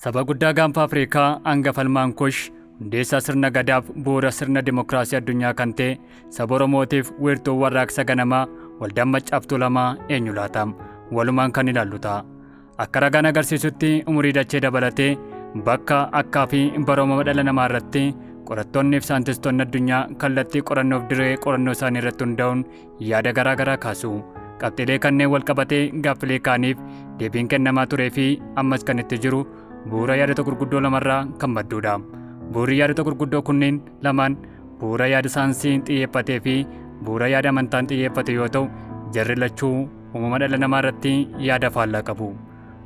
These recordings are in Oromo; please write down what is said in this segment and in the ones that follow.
Saba guddaa gaanfa Afrikaa hanga falmaan kush hundeessaa sirna gadaaf bu'uura sirna dimokiraasii addunyaa kan ta'e saba Oromootiif wiirtuu warraaqsa ganamaa waldaan maccaaftuu lamaa eenyu laata? Walumaan kan ilaallu ta'a. Akka ragaan agarsiisutti umurii dachee dabalatee bakka akkaa fi bara uumama dhala namaa irratti qorattoonni fi saayintistoonni addunyaa kallattii qorannoof dirree qorannoo isaanii irratti hundaa'uun yaada garaa garaa kaasu. Qabxiilee kanneen wal qabatee gaaffilee kaaniif deebiin kennamaa turee fi ammas kan itti jiru bu'uura yaadota gurguddoo lamarraa kan madduudha. Bu'uurri yaadota gurguddoo kunneen lamaan bu'uura yaada saayinsiin xiyyeeffatee fi bu'uura yaada amantaan xiyyeeffate yoo ta'u jarri lachuu uumama dhala namaa irratti yaada faallaa qabu.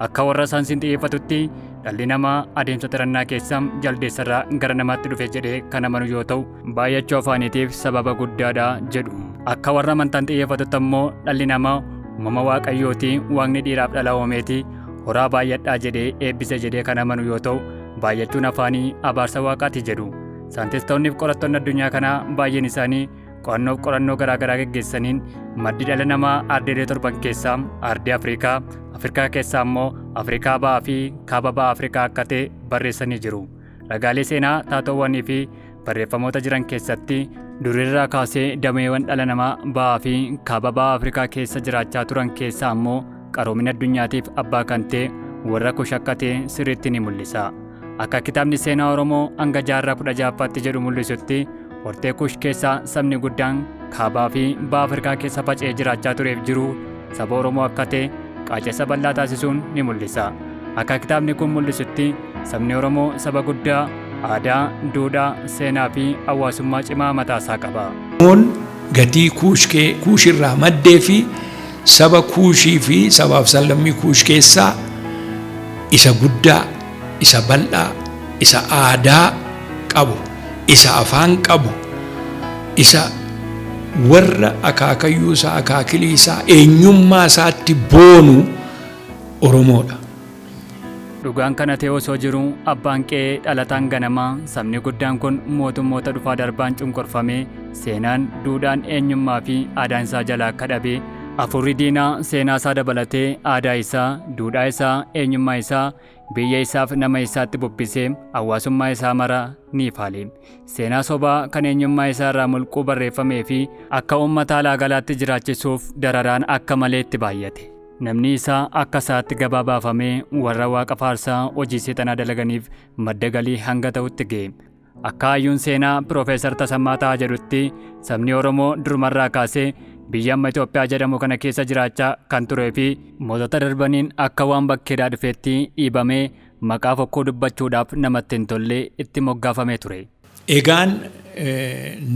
Akka warra saansiin xiyyeeffatutti dhalli namaa adeemsa xirannaa keessa jaldeessarraa gara namaatti dhufe jedhee kan amanu yoo ta'u baay'achuu afaaniitiif sababa guddaadha jedhu. Akka warra amantaan xiyyeeffatutti ammoo dhalli namaa uumama waaqayyooti waaqni dhiiraaf dhala uumeeti horaa baay'adhaa jedhee eebbise jedhee kan amanu yoo ta'u baay'achuun afaanii abaarsa waaqaati jedhu. Saantistoonniif qorattoonni addunyaa kanaa baay'een isaanii Qo'annoof qorannoo garaa garaa geggeessaniin maddi dhala namaa ardeelee torban keessaa ardii Afrikaa, Afrikaa keessaa immoo Afrikaa ba'aa fi kaaba ba'aa Afrikaa akka ta'e barreessanii jiru. Ragaalee seenaa taatoowwanii fi barreeffamoota jiran keessatti durirraa kaasee dameewwan dhala namaa ba'aa fi kaaba ba'aa Afrikaa keessa jiraachaa turan keessaa immoo qaroomina addunyaatiif abbaa kan ta'e warra kush akka ta'e sirriitti ni mul'isa. Akka kitaabni seenaa Oromoo hanga jaarraa 16ffaatti jedhu mul'isutti hortee kush keessaa sabni guddaan kaabaa fi baha Afrikaa keessa faca'ee jiraachaa tureef jiru saba Oromoo akka ta'e qaacessa bal'aa taasisuun ni mul'isa. Akka kitaabni kun mul'isutti sabni Oromoo saba guddaa aadaa, duudhaa, seenaa fi hawaasummaa cimaa mataasaa qaba. Oromoon gatii kuushkee kuushirraa maddee fi Saba Kuushii fi sabaaf sallammii Kuush keessaa isa guddaa, isa bal'aa, isa aadaa qabu, isa afaan qabu, isa warra akaakayyuu isaa, akaakilii isaa, eenyummaa isaatti boonu Oromoo dha. Dhugaan kana ta'ee osoo jiruu, abbaan qe'ee dhalataan ganamaa, sabni guddaan kun mootummoota dhufaa darbaan cunqurfamee, seenaan, duudhaan, eenyummaa fi aadaan isaa jalaa akka dhabe, afuurri diinaa seenaa isaa dabalatee aadaa isaa, duudhaa isaa, eenyummaa isaa, biyya isaaf nama isaatti bubbisee hawaasummaa isaa mara ni faale. Seenaa sobaa kan eenyummaa isaa irraa mulquu barreeffamee fi akka uummata alaa galaatti jiraachisuuf dararaan akka malee itti baay'ate. Namni isaa akka sa'aatti gabaa baafamee warra waaqa faarsaa hojii seexanaa dalaganiif madda galii hanga ta'utti ga'e. Akka hayyuun seenaa Piroofeesar Tasammaa Tahaa jedhutti sabni Oromoo durumarraa kaasee biyya amma Itoophiyaa jedhamu kana keessa jiraachaa kan turee fi mootota darbaniin akka waan bakkeedhaa dhufeetti dhiibamee maqaa fokkuu dubbachuudhaaf namatti hin tolle itti moggaafamee ture. Egaan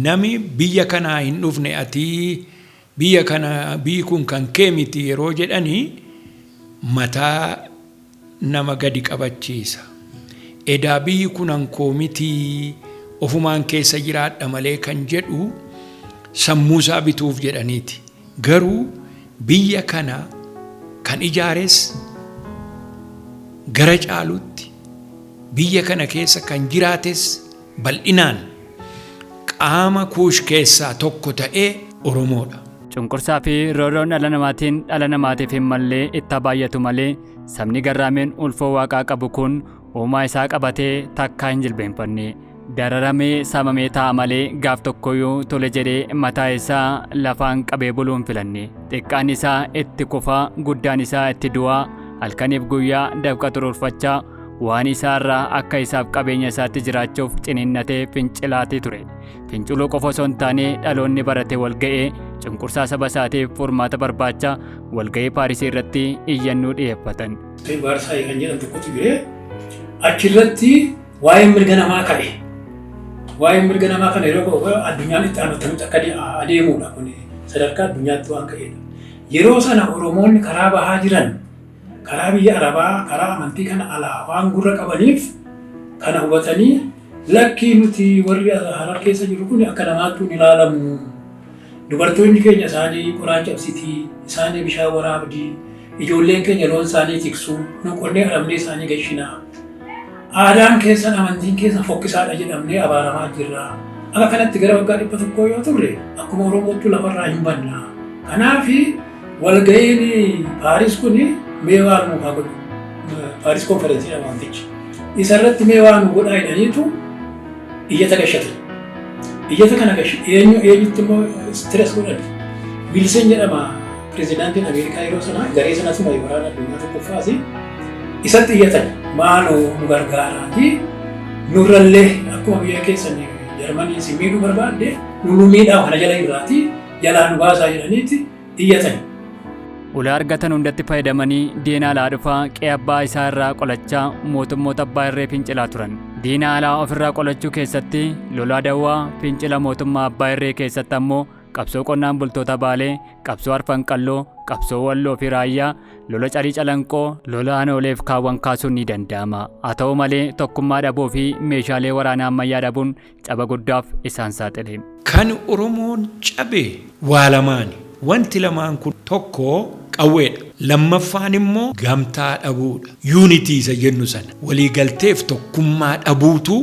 nami biyya kanaa hin dhufne atii Biyya kana biyyi kun kan kee miti yeroo jedhani mataa nama gadi qabachiisa. Edaa biyyi kunan koo mitii ofumaan keessa jiraadha malee kan jedhu sammuusaa bituuf jedhaniiti. Garuu biyya kana kan ijaares gara caalutti biyya kana keessa kan jiraates. Bal'inaan qaama Kuush keessaa tokko ta'e Oromoo dha. Cunqursaa fi roorroon dhala namaatiin dhala namaatiif hin malle itti haa baay'atu malee, sabni garraameen ulfoo Waaqaa qabu kun uumaa isaa qabatee takkaa hin jilbeenfanne. Dararamee, saamamee taa'a malee gaaf tokkoyyuu tole jedhee mataa isaa lafaan qabee buluu hin filanne. Xiqqaan isaa itti kufa, guddaan isaa itti du'a, halkaniif guyyaa dafqa xuruurfachaa, Waan isaa irraa akka isaaf qabeenya isaatti jiraachuuf ciniinnatee fincilaatii ture. Finciluu qofa osoo hin taane dhaloonni barate walga'ee cunqursaa saba isaatiif furmaata barbaacha walga'ii Paarisii irratti iyyannuu dhiyeeffatan. Baarsaayii kan jedhan tokkotu jire. Achirratti waa'ee mirga namaa ka'e. Waa'ee mirga namaa kana yeroo ka'u addunyaan itti aanu akkamitti akka adeemudha kun sadarkaa addunyaatti waan ka'edha. Yeroo sana Oromoonni karaa bahaa jiran karaa biyya arabaa karaa amantii kana alaa waan gurra qabaniif kana hubatanii lakkii nuti warri harar keessa jiru kun akka namaattuu hin ilaalamu dubartoonni keenya isaanii qoraan cabsitii isaanii bishaan waraabdii ijoolleen keenya loon isaanii tiksuu nu qonnee arabnee isaanii gashinaa aadaan keessan amantiin keessan fokkisaadha jedhamnee abaaramaa jirra akka kanatti gara waggaa dhibba tokkoo yoo turre akkuma oromootti lafarraa hin banna kanaafi Walga'iin Paaris kun mee waa nuuf haa godhu. Paaris konferensiidha waantichi. Isa irratti mee waa nu godhaa jedhaniitu iyyata gashatan. Iyyata kana gashi eenyu eenyutti immoo stress godhan. Wilson jedhama pirezidaantiin Ameerikaa yeroo sana garee sanas marii waraana addunyaa tokkoffaas isatti iyyatan maaloo nu gargaaraatii nurrallee akkuma biyya keessan Jarmanii isin miidhuu barbaadde nu nu miidhaa kana jala irraatii jalaa nu baasaa jedhaniiti iyyatan. Ulaa argatan hundatti fayyadamanii diina alaa dhufaa qe'ee abbaa isaa irraa qolachaa mootummoota abbaa irree fincilaa turan. Diina alaa ofirraa qolachuu keessatti lolaa dawwaa fincila mootummaa abbaa irree keessatti ammoo qabsoo qonnaan bultoota Baalee, qabsoo Arfan Qalloo, qabsoo Walloo fi Raayyaa, lola Carii Calanqoo, lola Anooleef kaawwan kaasuun ni danda'ama. Haa ta'u malee tokkummaa dhabuu fi meeshaalee waraanaa ammayyaa dhabuun caba guddaaf isaan saaxile. Kan Oromoon cabe waa lamaani. Wanti lamaan kun tokko qawweedha. Lammaffaan immoo gamtaa dhabuudha. Unity isa jennu sana. Waliigalteef tokkummaa dhabuutu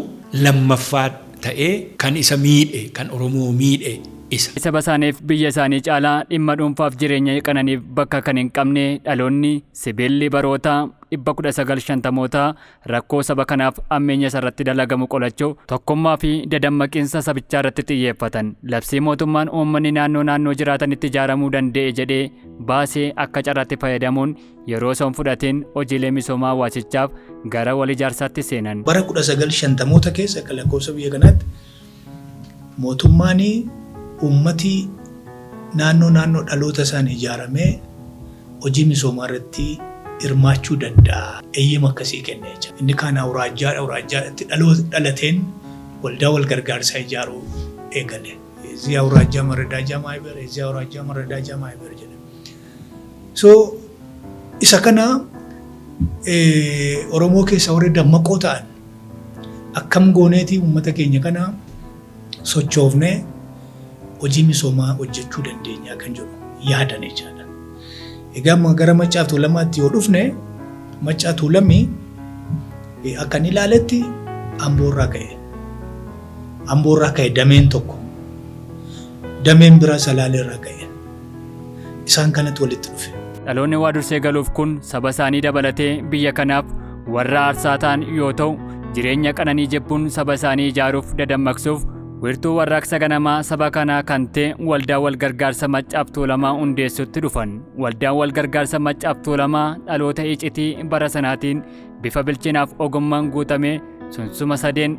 lammaffaa ta'ee kan isa miidhe, kan Oromoo miidhe isa. Saba isaaniif biyya isaanii caalaa dhimma dhuunfaaf jireenya qananiif bakka kan hin qabne dhaloonni, sibiilli baroota dhibba kudha sagal shantamootaa Rakkoo saba kanaaf ammeenya isa irratti dalagamu qolachuu, tokkummaa fi dadammaqinsa sabichaa irratti xiyyeeffatan labsii mootummaan uummanni naannoo naannoo jiraatanitti ijaaramuu danda'e jedhee baase akka carraatti fayyadamuun yeroo osoo hin fudhatiin hojiilee misoomaa hawaasichaaf gara wal ijaarsaatti seenan. Bara 1950moota keessa akka lakkoofsa biyya kanaatti Mootummaan uummati naannoo naannoo dhaloota isaan ijaaramee hojii misoomaa irratti hirmaachuu danda'a eeyyama akkasii kennee jira. Inni kaan awuraajjaadha, awuraajjaadhatti dhaloota dhalateen waldaa wal gargaarsaa ijaaruu eegale. Ezii awuraajjaa maradaajaa maayiber, ezii awuraajjaa maradaajaa maayiber jedha. So isa kana Oromoo keessa warri dammaqoo ta'an Akkam gooneeti uummata keenya kana sochoofnee hojii misoomaa hojjechuu dandeenyaa kan jedhu yaadan jechaadha. Egaa ma- gara Maccaa Tuulamaatti yoo dhufne Maccaa Tuulamii eh, akkan ilaaletti Amboorraa ka'e. Amboorraa ka'e dameen tokko. Dameen biraa Salaaleerraa ka'e. isaan kanatti walitti dhufe. Dhaloonni waa dursee galuuf kun saba isaanii dabalatee biyya kanaaf warra aarsaa ta'an yoo ta'u, jireenya qananii jibbuun saba isaanii ijaaruuf dadammaqsuuf wirtuu warraaqsa ganamaa saba kanaa kan ta'e Waldaa Walgargaarsa Maccaaf Tuulamaa hundeessutti dhufan. Waldaan Walgargaarsa Maccaaf Tuulamaa dhaloota icitii bara sanaatiin bifa bilchinaaf ogummaan guutamee sunsuma sadeen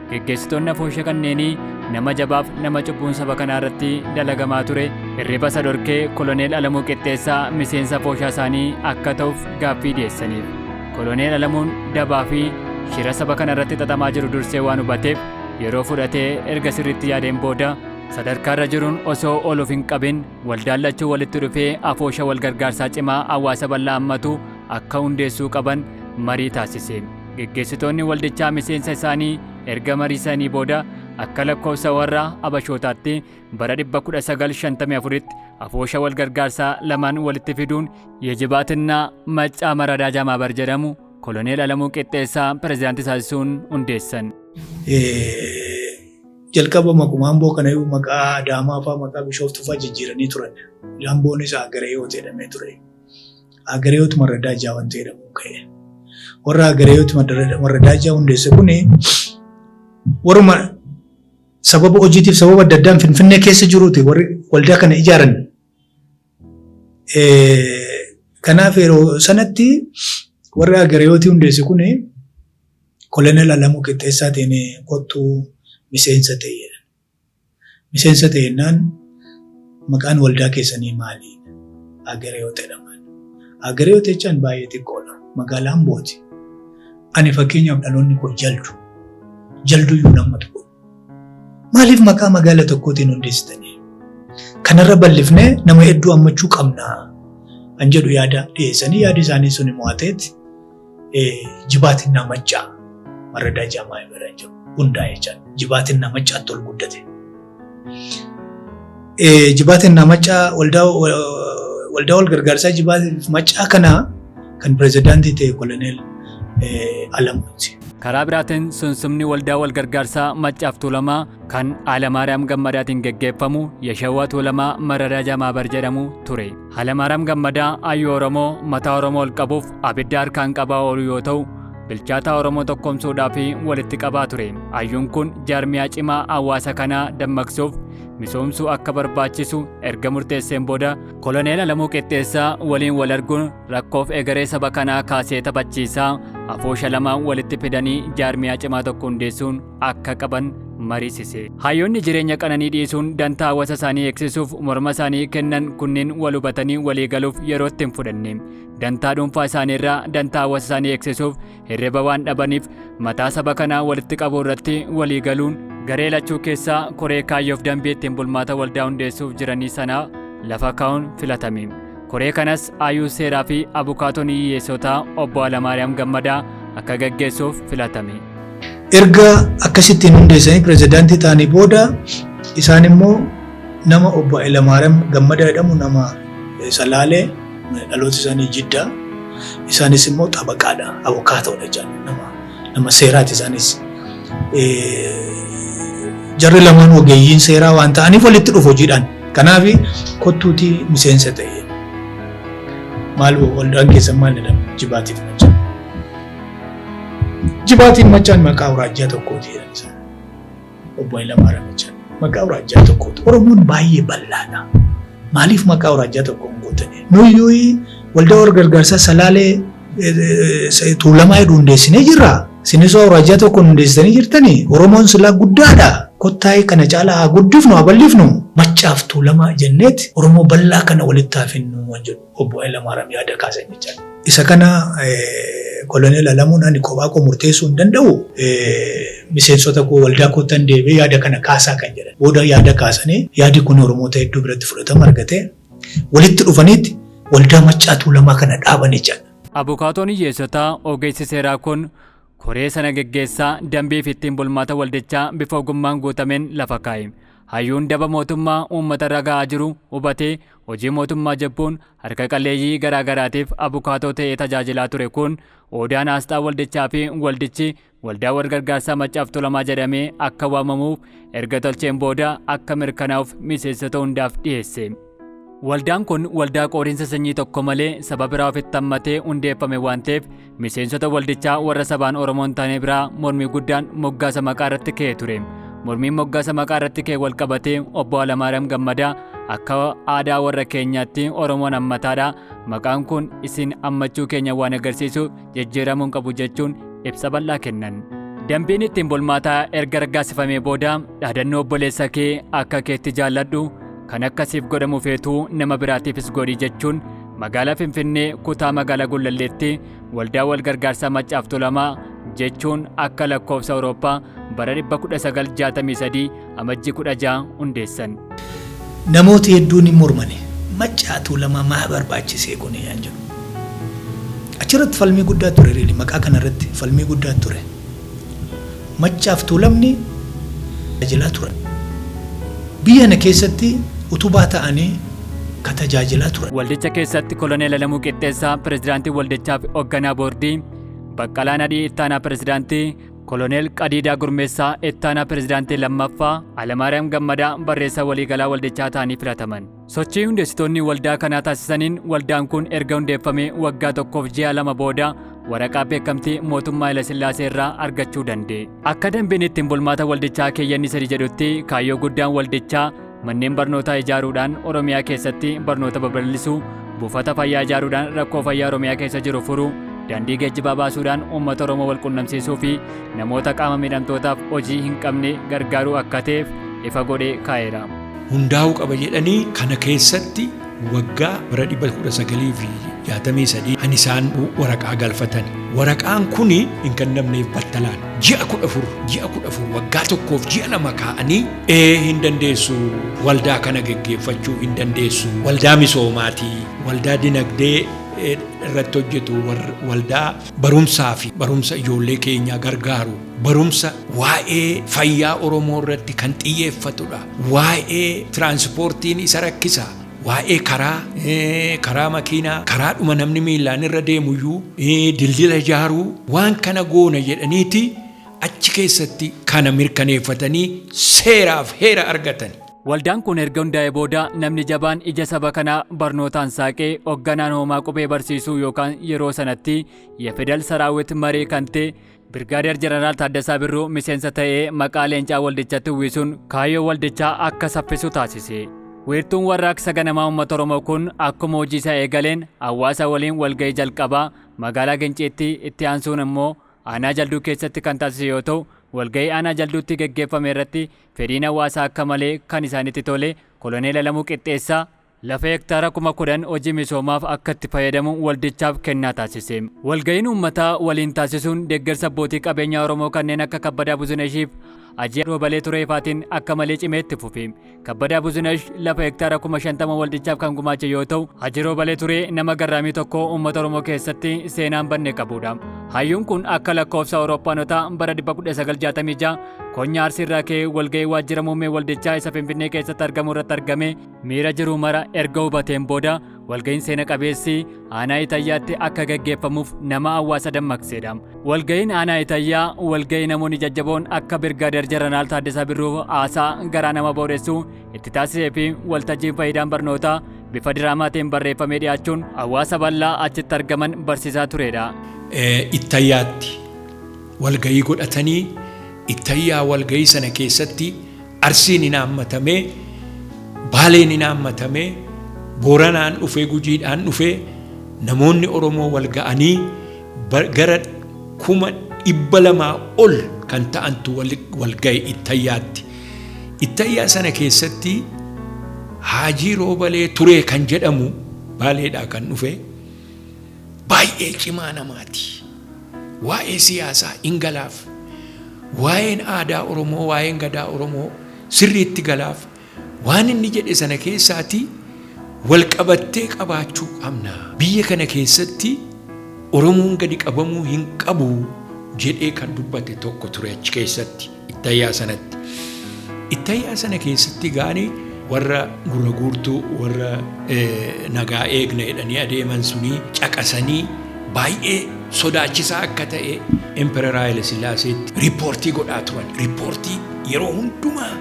Geggeessitoonni afoosha kanneenii nama jabaaf nama cubbuun saba kanaa irratti dalagamaa ture hirriba isa dhorkee koloneel Alamuu Qixxeessaa miseensa afooshaa isaanii akka ta'uuf gaaffii dhiyeessaniif. Koloneel Alamuun dabaa fi shira saba kana irratti xaxamaa jiru dursee waan hubateef yeroo fudhatee erga sirriitti yaadeen booda sadarkaa irra jiruun osoo ol of hin qabin waldaan lachuu walitti dhufee afoosha wal gargaarsaa cimaa hawaasa bal'aa hammatu akka hundeessuu qaban marii taasise. Geggeessitoonni waldichaa miseensa isaanii erga mariisanii booda akka lakkoofsa warra Abashootaatti bara 1954tti afoosha wal gargaarsaa lamaan walitti fiduun Yejibaatinna Maccaa Maraadaaja Maabar jedhamu koloneel Alamuu Qixxeessaa pirezidaantii taasisuun hundeessan. Jalqaba maquma Amboo kanayyuu maqaa Adaamaa fa'aa maqaa Bishooftuu fa'aa jijjiiranii turan. Amboonis Aagara Hiwoot jedhamee ture. Agareewoot Marradaajaa wanti jedhamu ka'e. Warra Agareewoot Marradaajaa hundeesse kun warruma sababa hojiitiif sababa adda addaan Finfinnee keessa jiruuti warri waldaa kana ijaaran. Kanaaf yeroo sanatti warri Agareewootii hundeesse kun kolonel Alamuu Qixxeessaatiin kottuu miseensa ta'e. Miseensa ta'e jennaan maqaan waldaa keessanii maali? Agereyoot jedhama. Agereyoot jechaan baay'ee xiqqoodha. Magaalaa Ambooti. Ani fakkeenyaaf dhaloonni koo jaldu. Jalduu iyyuu nama tokko. Maaliif maqaa magaala tokkootiin hundeessitanii? Kanarra bal'ifnee nama hedduu hammachuu qabna. Kan jedhu yaada dhiyeessanii yaadi isaanii sun mo'ateeti. jibaatinna maccaa marradaa jaamaa irra jiru hundaa jecha jibaatinna maccaatti ol guddate. Jibaatinna maccaa waldaa waldaa wal gargaarsaa jibaatiif maccaa kana kan pirezidaantii ta'e koloneel Alamuuti. Karaa biraatiin sunsumni waldaa wal gargaarsaa maccaaf tuulamaa kan Alamaariyaam Gammadaatiin geggeeffamu Yashawaa Tuulamaa Marradaa Jamaabar jedhamu ture. Halamaaram Gammadaa Ayyuu Oromoo mataa Oromoo ol qabuuf abidda harkaan qabaa oolu yoo ta'u, bilchaataa Oromoo tokkomsuudhaa fi walitti qabaa ture. Ayyuun kun jaarmiyaa cimaa hawaasa kanaa dammaqsuuf misoomsuu akka barbaachisu erga murteesseen booda koloneel Alamuu Qixxeessaa waliin wal arguun rakkoof egeree saba kanaa kaasee taphachiisaa afoosha lama walitti fidanii jaarmiyaa cimaa tokko hundeessuun akka qaban mariisise. Hayyoonni jireenya qananii dhiisuun dantaa hawaasa isaanii eegsisuuf morma isaanii kennan kunneen wal hubatanii walii galuuf yerootti hin fudhanne. Dantaa dhuunfaa isaanii irraa dantaa hawaasa isaanii eegsisuuf hirriba waan dhabaniif mataa saba kanaa walitti qabuu irratti walii galuun garee lachuu keessaa koree kaayyoof dambii ittiin bulmaata waldaa hundeessuuf jiranii sanaa lafa kaa'uun filatame. Koree kanas ayuu seeraa fi abukaatoon hiyyeessotaa obbo Alamaariyaam Gammadaa akka gaggeessuuf filatame. Erga akkasittiin hundeessanii pirezidaantii ta'anii booda isaan immoo nama obbo Hayilamaariyaam Gammadaa jedhamu nama Salaalee dhaloota isaanii Jiddaa isaanis immoo xabaqaadha, abukaatoodha jedhan nama nama seeraati isaanis. Jarri lamaan ogeeyyiin seeraa waan ta'aniif walitti dhufu hojiidhaan. Kanaaf kottuutii miseensa ta'e. Maal waldaan keessan maal jedhama? Jibaatiif machaan. Jibaatiin machaan maqaa awuraajjaa tokkooti jedhan isaan. Obbo Hayilamaariyaam Ijjaan. Maqaa awuraajjaa tokkooti. Oromoon baay'ee bal'aadha. Maaliif maqaa awuraajjaa tokko hin guuttane? Nuyyuu waldaa wal gargaarsaa salaalee tuulamaa jedhu hundeessinee jirra. Sinisoo awuraajjaa tokko hundeessitanii jirtanii? Oromoon silaa guddaadha. Kottaa'ee kana caalaa haa guddifnu haa bal'ifnu. Maccaaf tuulamaa jenneet Oromoo bal'aa kana walitti haa fidnu waan jedhu. Obbo Hayilamaariyaam yaada kaasan jechaa. Isa kana Koloneel Alamuun ani kophaa koo murteessuu hin danda'u miseensota koo waldaa koottan deebi'ee yaada kana kaasaa kan jedhan. Booda yaada kaasanii yaadi kun Oromoota hedduu biratti fudhatama argatee walitti dhufaniitti waldaa Maccaa Tuulamaa kana dhaaban jechaadha. Abukaatoon hiyyeessotaa ogeessi seeraa kun koree sana geggeessaa dambii fi ittiin bulmaata waldichaa bifa ogummaan guutameen lafa kaa'e. Hayyuun daba mootummaa uummata irra ga'aa jiru hubatee Hojii mootummaa jabbuun harka qalleeyyii garaa garaatiif abukaatoo ta'ee tajaajilaa ture kun oodaan aasxaa waldichaa fi waldichi waldaa walgargaarsaa maccaaf tulamaa jedhamee akka waamamuuf erga tolcheen booda akka mirkanaa'uuf miseensota hundaaf dhiyeesse. Waldaan kun waldaa qoodiinsa sanyii tokko malee saba biraa ofitti hammatee hundeeffame waan ta'eef Miseensota waldichaa warra sabaan Oromoo hin taane biraa mormii guddaan moggaasa maqaa irratti ka'ee ture. Mormiin moggaasa maqaa irratti ka'e wal qabatee obbo Alamaariyaam Gammadaa akka aadaa warra keenyaatti Oromoon hammataadha. Maqaan kun isin hammachuu keenya waan agarsiisu jijjiiramuu hin qabu jechuun ibsa bal'aa kennan. Dambiin ittiin bulmaataa erga raggaasifamee booda dhaadannoo obboleessa kee akka keetti jaalladhu kan akka siif godhamu feetuu nama biraatiifis godhi jechuun Magaalaa Finfinnee kutaa magaalaa Gullalleetti waldaa wal gargaarsaa Maccaaf Tulamaa jechuun akka lakkoofsa Awurooppaa bara 1963 amajjii 16 hundeessan. Namooti hedduun hin mormane. Maccaa Tuulamaa maa barbaachisee kuni? Achirratti falmii guddaa ture really maqaa kanarratti falmii guddaa ture. Maccaaf Tuulamni tajaajilaa turan. Biyya kana keessatti utubaa ta'anii ka tajaajilaa turan. Waldicha keessatti Koloneel Alamuu Qixxeessaa Pirezidaantii Waldichaa fi Hogganaa Boordii, Baqqalaa Nadhii Ittaanaa Pirezidaantii, Koloneel Qadiidaa Gurmeessaa Ittaanaa Pirezidaantii 2ffaa, Alamaariyaam Gammadaa Barreessaa Waliigalaa Waldichaa ta'anii filataman. Sochii hundeessitoonni waldaa kanaa taasisaniin waldaan kun erga hundeeffamee waggaa tokkoof ji'a lama booda waraqaa beekamtii mootummaa Hayilasillaasee irraa argachuu danda'e. Akka dambiin ittiin bulmaata waldichaa keeyyanni sadi jedhutti kaayyoo guddaan waldichaa manneen barnootaa ijaaruudhaan Oromiyaa keessatti barnoota babal'isuu, buufata fayyaa ijaaruudhaan rakkoo fayyaa Oromiyaa keessa jiru furuu, daandii geejjibaa baasuudhaan uummata Oromoo wal qunnamsiisuu fi namoota qaama miidhamtootaaf hojii hin qabne gargaaruu akka ta'eef ifa godhee kaa'eera. hundaa'uu qaba jedhanii kana keessatti waggaa bara 1963 kan isaan waraqaa galfatan. Waraqaan kun hin kennamneef battalaan ji'a 14 ji'a 14 waggaa tokkoof ji'a lama kaa'anii ee hin dandeessu waldaa kana geggeeffachuu hin dandeessu waldaa misoomaatii waldaa dinagdee irratti hojjetu waldaa barumsaa fi barumsa ijoollee keenyaa gargaaru Barumsa waa'ee fayyaa Oromoo irratti kan xiyyeeffatudha. Waa'ee tiraansipoortiin isa rakkisa. Waa'ee karaa, karaa makiinaa, karaadhuma namni miillaan irra deemuyyuu, dildila ijaaruu waan kana goona jedhaniiti achi keessatti kana mirkaneeffatanii seeraaf heera argatani. Waldaan kun erga hundaa'ee booda namni jabaan ija saba kanaa barnootaan saaqee hogganaan hoomaa qubee barsiisuu yookaan yeroo sanatti Yefedal Saraawwit Maree kan ta'e Birgaadeer Jeneraal Taaddasaa Birruu miseensa ta'ee maqaa leencaa waldichatti uwwisuun kaayyoo waldichaa akka saffisu taasise. Wiirtuun warraaqsa ganamaa uummata Oromoo kun akkuma hojii isaa eegaleen hawaasa waliin walga'ii jalqabaa magaalaa Ginciitti itti aansuun immoo aanaa jalduu keessatti kan taasise yoo ta'u walga'ii aanaa jalduutti geggeeffame irratti fedhiin hawaasaa akka malee kan isaanitti tole koloneel Alamuu Qixxeessaa Lafa hektaara kuma 10 hojii misoomaaf akka itti fayyadamu waldichaaf kennaa taasise. Walga'iin uummataa waliin taasisuun deeggarsa abbootii qabeenyaa Oromoo kanneen akka Kabbadaa Buzinashiif Hajii Roobalee Turee faatiin akka malee cimee itti fufe. Kabbadaa Buzinash lafa hektaara kuma 50 waldichaaf kan gumaache yoo ta'u, Hajii Roobalee Turee nama garraamii tokko uummata Oromoo keessatti seenaan banne qabudha. Hayyuun kun akka lakkoofsa Awurooppaanotaa bara 1966 Konyaa Arsiirraa ka'ee walga'ii waajjira muummee waldichaa isa Finfinnee keessatti argamu irratti argamee miira jiru mara erga hubateen booda walga'iin seena qabeessi aanaa Itayyaatti akka gaggeeffamuuf nama hawaasa dammaqseedha. Walga'iin aanaa Itayyaa walga'ii namoonni jajjaboon akka Birgaadeer Jeneraal Taaddasaa Birruu haasaa garaa nama boodessu itti taasisee fi waltajjiin faayidaan barnootaa bifa diraamaatiin barreeffamee dhiyaachuun hawaasa bal'aa achitti argaman barsiisaa tureedha. Ittayyaatti walga'ii godhatanii Ittayyaa walga'ii sana keessatti Arsiin hin haammatamee, Baaleen hin haammatamee, Booranaan dhufee, Gujiidhaan dhufee, namoonni Oromoo wal ga'anii ba- gara kuma dhibba lamaa ol kan ta'antu wal, wal ga'e Ittayyaatti. Ittayyaa sana keessatti Haajii Roobalee Turee kan jedhamu Baaleedhaa kan dhufe baay'ee cimaa namaati. Waa'ee siyaasaa in galaaf. Waa'een aadaa Oromoo, waa'een gadaa Oromoo sirriitti galaaf. Waan inni jedhe sana keessaatii wal qabattee qabaachuu qabna. Biyya kana keessatti Oromoon gadi qabamuu hin qabu jedhee kan dubbate tokko ture achi keessatti. Ittayaa sanatti. Ittayaa sana keessatti gaani warra gurra guurtuu warra nagaa eegna jedhanii adeeman sunii caqasanii baay'ee sodaachisaa akka ta'e Emperor Haile Sillaaseetti riippoortii godhaa turan. Riippoortii yeroo hundumaa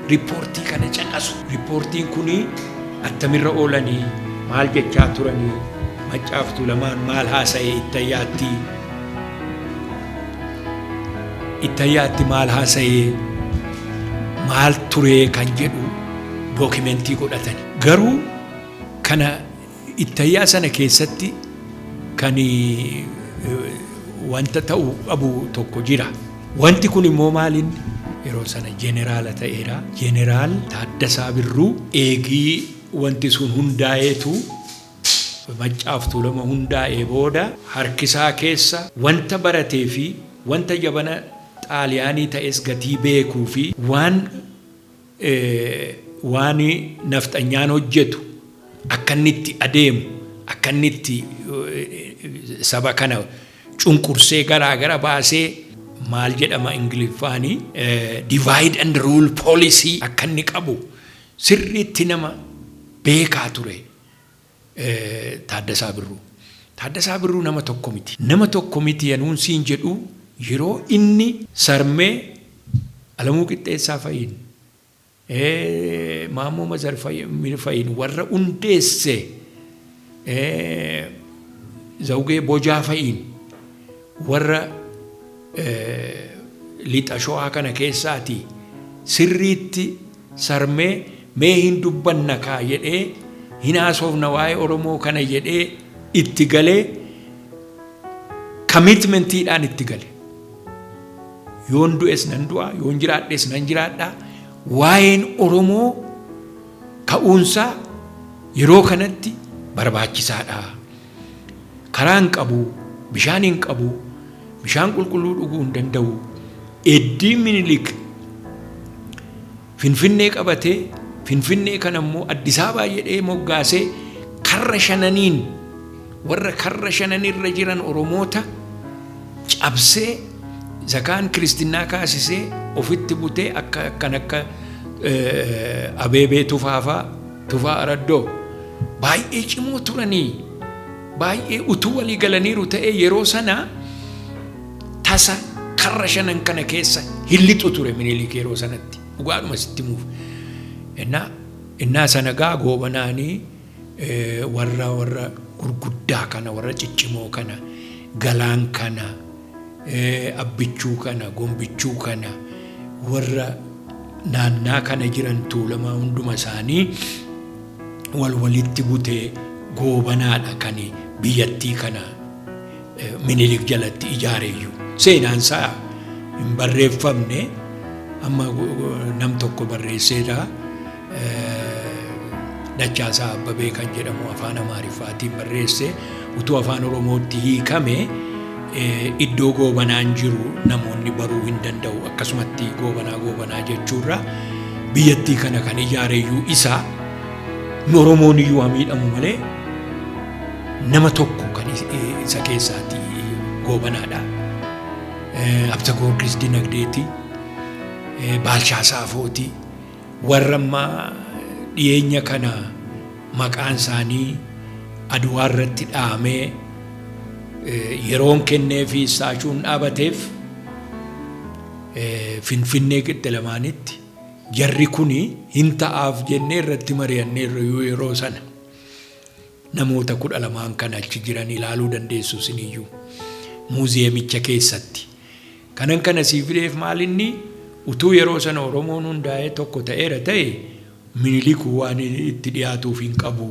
riippoortii kana caqasu. Riippoortiin kun attamirra oolanii maal jechaa turanii maccaaftuu lamaan maal haasa'e ittayaatti Ittayaatti maal haasa'ee maal turee kan jedhu dookimentii godhatan. Garuu kana ittayyaa sana keessatti kan wanta ta'u qabu tokko jira. Wanti kun immoo maaliin yeroo sana jeneraala ta'eera. Jeneraal Taaddasaa Birruu eegii wanti sun hundaa'eetu Maccaaf Tuulama hundaa'ee booda harkisaa keessa wanta barateefi wanta jabana Xaaliyaanii ta'es gatii beekuufi waan waan nafxanyaan hojjetu akkanni itti adeemu akkanni itti saba kana cunqursee garaa gara baasee maal jedhama Ingiliffaani divide and rule policy akkanni qabu sirriitti nama beekaa ture. Taaddasaa Birruu. Taaddasaa Birruu nama tokko miti. Nama tokko miti yanuun siin jedhu yeroo inni. Sarmee, Alamuu Qixxeessaa fa'iin, Maammoo Mazarmir fa'iin warra hundeesse, Zawugee Bojaa fa'iin warra Lixa Showaa kana keessaatii sirriitti. Sarmee mee hin dubbanna kaa jedhee hin haasoofna waa'ee Oromoo kana jedhee itti galee commitment dhaan itti gale. Yoon du'es nan du'a, yoon jiraadhes nan jiraadha. Waa'een Oromoo ka'uunsaa yeroo kanatti barbaachisaadha. Karaa hin qabu, bishaan hin qabu, bishaan qulqulluu dhuguu hin danda'u. Eddii Minilik Finfinnee qabatee Finfinnee kana immoo Addis Ababaa jedhee moggaasee karra shananiin warra karra shananirra jiran Oromoota cabsee zakaan kiristinnaa kaasisee ofitti butee akka akkan akka eh, Abeebee Tufaafaa Tufaa Araddoo, Baay'ee cimoo turanii, baay'ee utuu walii galaniiru ta'ee yeroo sana tasa karra shanan kana keessa hin lixu ture Minilik yeroo sanatti. Dhugaadhuma sitti himuuf. Innaa innaa sana gaa goobanaanii eh, warra warra gurguddaa kana warra ciccimoo kana galaan kana Abbichuu kana, Gombichuu kana, warra naannaa kana jiran Tuulamaa hunduma isaanii wal walitti butee goobanaadha kan biyyattii kana Minilik jalatti ijaareeyyu. Seenaan isaa hin barreeffamne amma nam tokko barreesseedha. Dachaasaa Abbabee kan jedhamu afaan Amaariffaatiin barreesse utuu afaan Oromootti hiikame iddoo goobanaan jiru namoonni baruu hin danda'u akkasumatti goobanaa goobanaa jechuurra biyyattii kana kan ijaareyyuu isa nu Oromoon iyyuu haa miidhamu malee nama tokko kan isa keessaati goobanaadha. Absa Goorgis Dinagdeeti, Baalchaa Saafooti. Warra amma dhiyeenya kana maqaan isaanii Adwaa irratti dha'amee yeroon kenneefi istaashuun dhaabateef Finfinnee Qixxilamaanitti jarri kun hin ta'aaf jennee irratti mari'anneerra iyyuu yeroo sana. Namoota kudha lamaan kan achi jiran ilaaluu dandeessu isiniyyuu. Muuziyeemicha keessatti Kanan kana sii fideef maalinni utuu yeroo sana Oromoon hundaa'ee tokko ta'eera ta'e Minilik waan itti dhiyaatuuf hin qabu,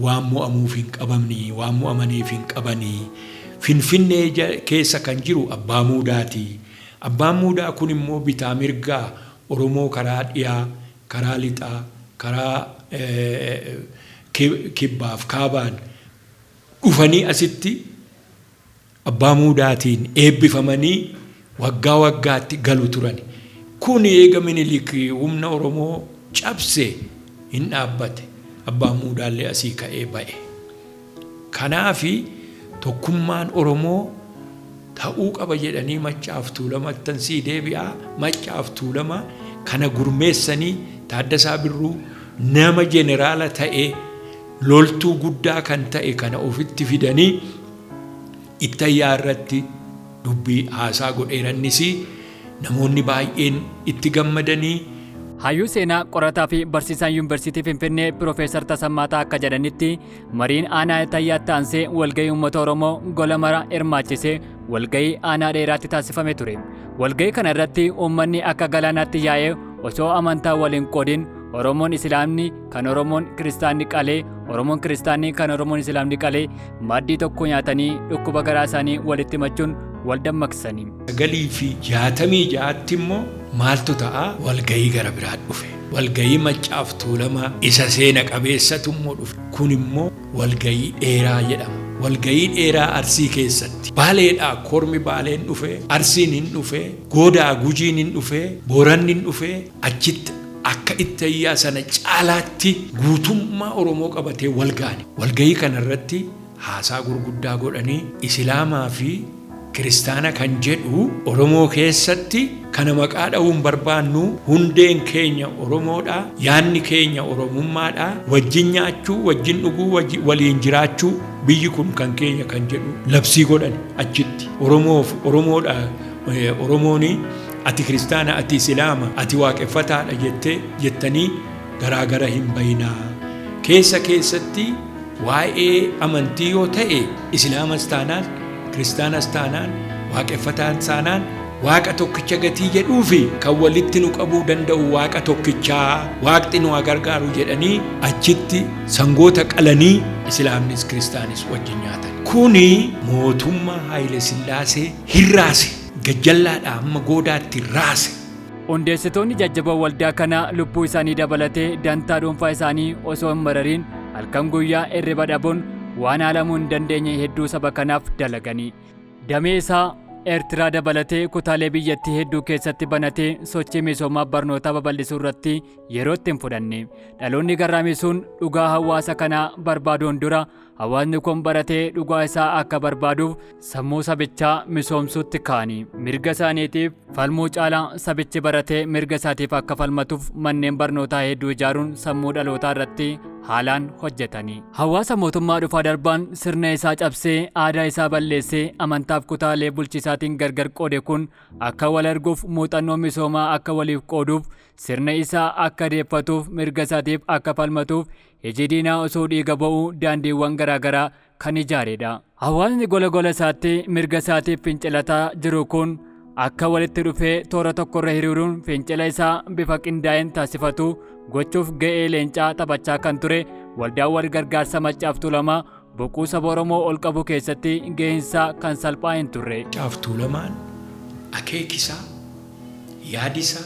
waan mo'amuuf hin qabamni, waan mo'amaniif hin qabani. Finfinnee keessa kan jiru Abbaa Muudaati. Abbaan Muudaa kun immoo bitaa mirgaa Oromoo karaa dhiyaa, karaa lixaa, karaa kibbaaf kaabaan dhufanii asitti Abbaa Muudaatiin eebbifamanii waggaa waggaatti galu turani. Kun eega Minilik humna Oromoo cabse hin dhaabbate. Abbaan Muudaallee asii ka'ee ba'e. Kanaaf tokkummaan Oromoo ta'uu qaba jedhanii Maccaaf Tuulamattan sii deebi'a. Maccaaf Tuulama kana gurmeessanii Taaddasaa Birruu nama jeneraala ta'ee loltuu guddaa kan ta'e kana ofitti fidanii, Ittayyaa irratti dubbii haasaa godheera innis namoonni baay'een itti gammadanii. Hayyuu seenaa, qorataa fi barsiisaan Yuunvarsiitii Finfinnee Pirofeesar Tasammaa Ta'a akka jedhanitti mariin aanaa Ittayyaatti aansee walgahii uummata Oromoo gola mara hirmaachise walgahii aanaa dheeraatti taasifame ture. Walgahii kana irratti uummanni akka galaanaatti yaa'ee osoo amantaa wal hin qoodin Oromoon Isilaamni kan Oromoon kiristaanni qalee, Oromoon kiristaanni kan Oromoon Islaamni qalee maaddii tokko nyaatanii dhukkuba garaa isaanii walitti machuun wal dammaqsanii. sagalii fi jaatamii ja'atti immoo maaltu ta'a walgayii gara biraa dhufe. Walgayii Maccaaf Tuulamaa isa seena qabeessatu immoo dhufe. Kun immoo walgayii dheeraa jedhama. Walgayii dheeraa Arsii keessatti Baaleedhaa kormi Baaleen dhufe, Arsiin hin dhufe, Goodaa Gujiin hin dhufe, Booranni hin dhufe achitti akka ittayyaa sana caalaatti guutummaa Oromoo qabatee walga'ani. Walga'ii kana irratti haasaa gurguddaa godhanii Isilaamaa fi Kiristaana kan jedhu Oromoo keessatti kana maqaa dha'uu hin barbaannu, hundeen keenya Oromoodha, yaadni keenya Oromummaadha, wajjin nyaachuu, wajjin dhuguu, wajji, waliin jiraachuu, biyyi kun kan keenya kan jedhu labsii godhani achitti. Oromoof Oromoodha, eh, Oromooni Ati kiristaana ati isilaama ati waaqeffataadha jettee jettanii garaa gara hin bayinaa keessa keessatti waa'ee amantii yoo ta'e isilaamas taanaan kiristaanas taanaan waaqeffataan taanaan waaqa tokkicha gatii jedhuu fi kan walitti nu qabuu danda'u waaqa tokkichaa waaqti nu haa gargaaru jedhanii achitti sangoota qalanii isilaamnis kiristaanis wajjin nyaatan kuni mootummaa haayile sillaasee hirraase Gajjallaadhaa hamma goodaatti raase. Hundeessitoonni jajjaboo waldaa kanaa lubbuu isaanii dabalatee dantaa dhuunfaa isaanii osoo hin marariin halkan guyyaa irriba dhabuun waan haalamuu hin dandeenye hedduu saba kanaaf dalagani. Damee isaa Ertiraa dabalatee kutaalee biyyattii hedduu keessatti banatee sochii misoomaa barnootaa babal'isuu irratti yeroo itti hin fudhanne. Dhaloonni garraamisuun dhugaa hawaasa kanaa barbaaduun dura Hawaasni kun baratee dhugaa isaa akka barbaaduuf sammuu sabichaa misoomsuutti kaani. Mirga isaaniitiif falmuu caalaa sabichi baratee mirga isaatiif akka falmatuuf manneen barnootaa hedduu ijaaruun sammuu dhalootaa irratti haalaan hojjetani. Hawaasa mootummaa dhufaa darbaan sirna isaa cabsee aadaa isaa balleessee amantaaf kutaalee bulchiisaatiin gargar qoode kun akka wal arguuf muuxannoo misoomaa akka waliif qooduuf sirna isaa akka deeffatuuf mirga isaatiif akka falmatuuf Iji diinaa osoo dhiiga ba'uu daandiiwwan garaagaraa kan ijaareedha. Hawaasni gola gola isaatti mirga isaatiif fincilataa jiru kun akka walitti dhufee toora tokkorra hiriiruun fincila isaa bifa qindaa'een taasifatu gochuuf ga'ee leencaa taphachaa kan ture waldaan wal gargaarsa Maccaaf Tuulamaa Boquu saba Oromoo ol qabuu keessatti gaheensaa kan salphaa hin turre. Caaf Tuulamaan akeekisaa, yaadisaa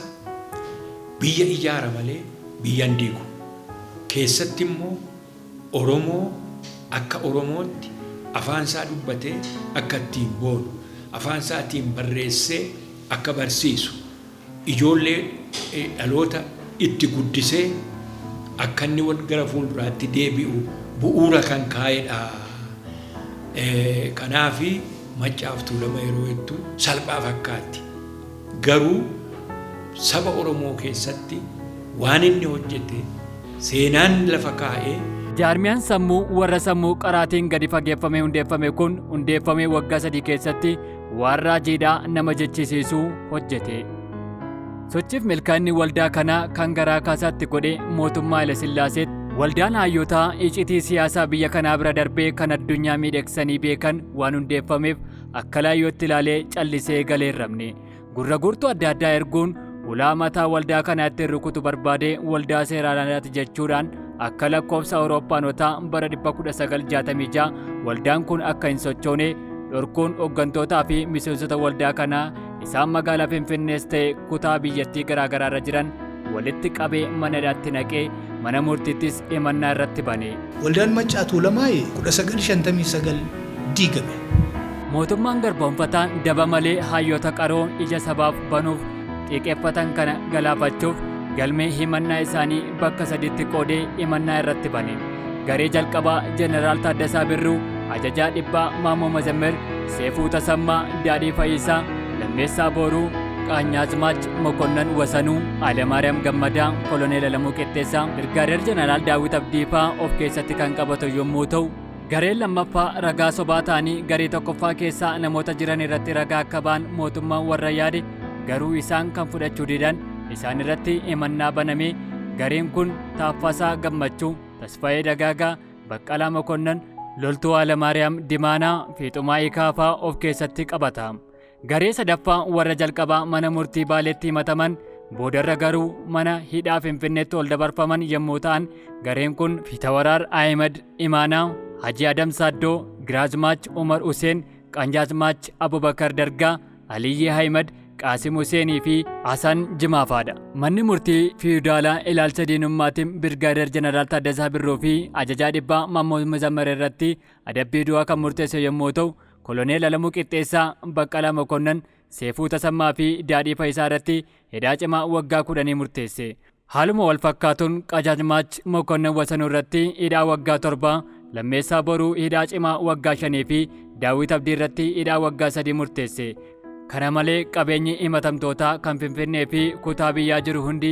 biyya ijaara malee biyya hin diigu. Keessatti immoo Oromoo akka Oromootti afaansaa dubbatee akka ittiin boonu, afaansaa tiin barreessee akka barsiisu, Ijoollee dhaloota itti guddisee akka inni gara fuulduraatti deebi'u bu'uura kan kaa'edha. Kanaaf Maccaaf Tuulama yeroo jettu salphaa fakkaatti. Garuu saba Oromoo keessatti waan inni hojjete seenaan lafa kaa'e. Jaarmiyaan sammuu warra sammuu qaraatiin gadi fageeffamee hundeeffame kun hundeeffamee waggaa sadii keessatti Waan raajiidhaa nama jechisiisu hojjete. Sochiif milkaa'inni waldaa kanaa kan garaa kaasaatti godhe mootummaa Hayilesillaaseetti. Waldaan haayyotaa icitii siyaasaa biyya kanaa bira darbee kan addunyaa miidheeksanii beekan waan hundeeffameef akka laayyootti ilaalee callisee galee hin rabne. Gurra guurtuu adda addaa erguun ulaa mataa waldaa kanaa ittiin rukutu barbaadee waldaa seeraan alaati jechuudhaan Akka lakkoofsa Awurooppaanotaa bara 1966 waldaan kun akka hin sochoone dhorkuun hooggantootaa fi miseensota waldaa kanaa isaan magaalaa Finfinnees ta'e kutaa biyyattii garaagaraa irra jiran walitti qabee mana hidhaatti naqee mana murtiittis himannaa irratti bane. Waldaan Maccaa Tuulamaa 1959 diigame. Mootummaan garboomfataan daba malee hayyoota qaroo ija sabaaf banuuf xiiqeffatan kana galaafachuuf galmee himannaa isaanii bakka sadiitti qoodee himannaa irratti bane. Garee jalqabaa Jeneraal Taaddasaa Birruu, Ajajaa Dhibbaa Maammoo Mazammir, Seefuu Tasammaa, Daadhii Fayyisaa, Lammeessaa Booruu, Qaanyaazmaach Mokonnan Wasanuu, Alemaariyaam Gammadaa, Koloneel Alamuu Qixxeessaa, Birgaadeer Jeneraal Daawit Abdiifaa of keessatti kan qabatu yommuu ta'u, Gareen lammaffaa ragaa sobaa ta'anii garee tokkoffaa keessaa namoota jiran irratti ragaa akka ba'an mootummaan warra yaade garuu isaan kan fudhachuu didan isaan irratti himannaa banamee gareen kun Taaffasaa Gammachuu, Tasfayee Dagaagaa, Baqqalaa Mokonnan, Loltuu Haalamaariyaam Dimaanaa fi Xumaa'ii Kaafaa of keessatti qabata. Garee sadaffaa warra jalqabaa mana murtii Baaleetti himataman boodarra garuu mana hidhaa Finfinneetti ol dabarfaman yommuu ta'an gareen kun Fitawaraar Ahimad Imaanaa, Hajii Adam Saaddoo, Giraazmaach Umar Huseen, Qanjaazmaach Abubakar Dargaa, Aliyyii Ahimad, Qaasim Huseenii fi Hasan Jimaafaadha. Manni murtii fiiyudaalaa ilaalcha diinummaatiin Birgaadeer Jeneraal Taaddasaa Birruu fi ajajaa dhibbaa Maammoo Muzammar irratti adabbii du'aa kan murteesse yommuu ta'u Koloneel Alamuu Qixxeessaa, Baqqalaa Mokonnan, Seefuu Tasammaa fi Daadhii Fayisaa irratti hidhaa cimaa waggaa kudhanii murteesse. Haaluma wal fakkaatuun Qajaajmaach Mokonnan Wasanuu irratti hidhaa waggaa torba, Lammeessaa Boruu hidhaa cimaa waggaa shanii fi Daawwit Abdii irratti hidhaa waggaa sadii murteesse. Kana malee qabeenyi himatamtootaa kan Finfinnee fi kutaa biyyaa jiru hundi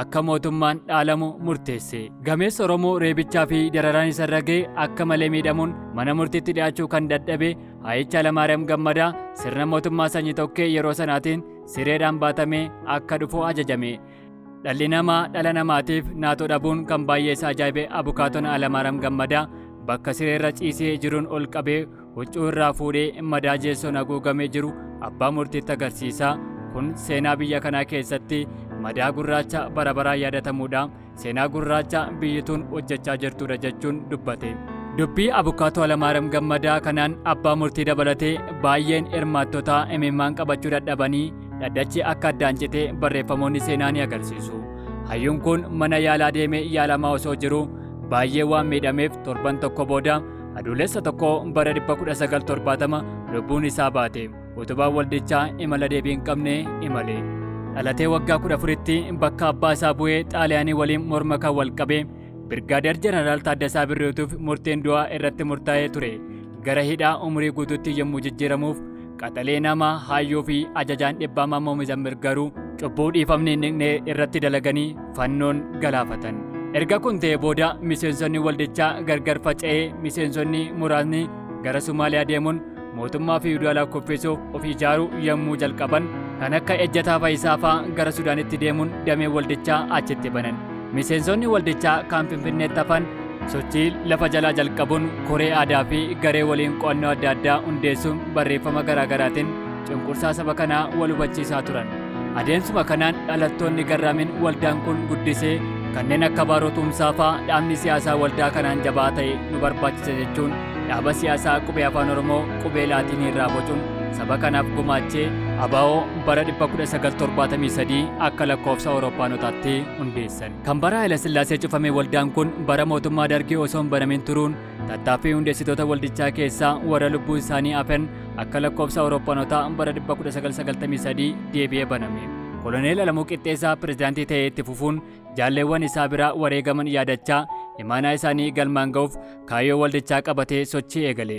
akka mootummaan dhaalamu murteesse. Gameessa Oromoo reebichaa fi dararaan isarra ga'e akka malee miidhamuun mana murtiitti dhiyaachuu kan dadhabe Hayicha Alamaariyaam Gammadaa sirna mootummaa sanyi tokkee yeroo sanaatiin sireedhaan baatamee akka dhufu ajajame. Dhalli namaa dhala namaatiif naatoo dhabuun kan baay'ee isa ajaa'ibe abukaatoon Alamaaram Gammadaa bakka sireerra ciisee jiruun ol qabee huccuu irraa fuudhee madaa jeessoon haguugamee jiru abbaa murtiitti agarsiisa. Kun seenaa biyya kanaa keessatti madaa gurraacha bara baraan yaadatamuudha. Seenaa gurraacha biyyi tun hojjechaa jirtuudha jechuun dubbate. Dubbii abukaatoo Alamaaram Gammadaa kanaan abbaa murtii dabalatee baay'een hirmaattotaa imimmaan qabachuu dadhabanii dhaddachi akka addaan citee barreeffamoonni seenaa ni agarsiisu. Hayyuun kun mana yaalaa deemee yaalamaa osoo jiru baay'ee waan miidhameef torban tokko booda adoolessa tokko bara 1970 lubbuun isaa baate. Utubaan waldichaa imala deebii hin qabne imale. Dhalatee waggaa 14tti bakka abbaa isaa bu'ee xaaliyaanii waliin morma kan wal qabe Birgaadeer Jeneraal Taaddasaa Birruutuuf murteen du'aa irratti murtaa'ee ture. Gara hidhaa umurii guutuutti yommuu jijjiiramuuf Qaxalee namaa haayyuu fi ajajaan dhibbaa Maammoo Mizammir garuu cubbuu dhiifamni hin dhiqne irratti dalaganii fannoon galaafatan. Erga kun ta'ee booda miseensonni waldichaa gargar faca'ee miseensonni muraasni gara Somaaliyaa deemuun mootummaa fiwudaalaa kuffisuuf of ijaaruu yommuu jalqaban kan akka Ejjataa Fayisaa fa'aa gara Sudaanitti deemuun damee waldichaa achitti banan. Miseensonni waldichaa kan Finfinneetti hafan sochii lafa jalaa jalqabuun koree aadaa fi garee waliin qo'annoo adda addaa hundeessuun barreeffama garaa garaatiin cunqursaa saba kanaa wal hubachiisaa turan. Adeemsuma kanaan dhalattoonni garraamiin waldaan kun guddisee kanneen akka Baaroo Tumsaa fa'aa dhaabni siyaasaa waldaa kanaan jabaa ta'e nu barbaachisa jechuun dhaaba siyaasaa qubee afaan Oromoo qubee laatiinii irraa bocuun saba kanaaf gumaachee ABO bara 1973 akka lakkoofsa Awurooppaanotaatti hundeessan. Kan bara Hayilasillaasee cufame waldaan kun bara mootummaa Dargii osoo hin banamin turuun tattaaffii hundeessitoota waldichaa keessaa warra lubbuun isaanii hafen akka lakkoofsa Awurooppanotaa bara 1993 deebi'ee baname. Koloneel Alamuu Qixxeessaa pirezidaantii ta'ee itti fufuun jaalleewwan isaa biraa wareegaman yaadachaa imaanaa isaanii galmaan ga'uuf kaayyoo waldichaa qabatee sochii eegale.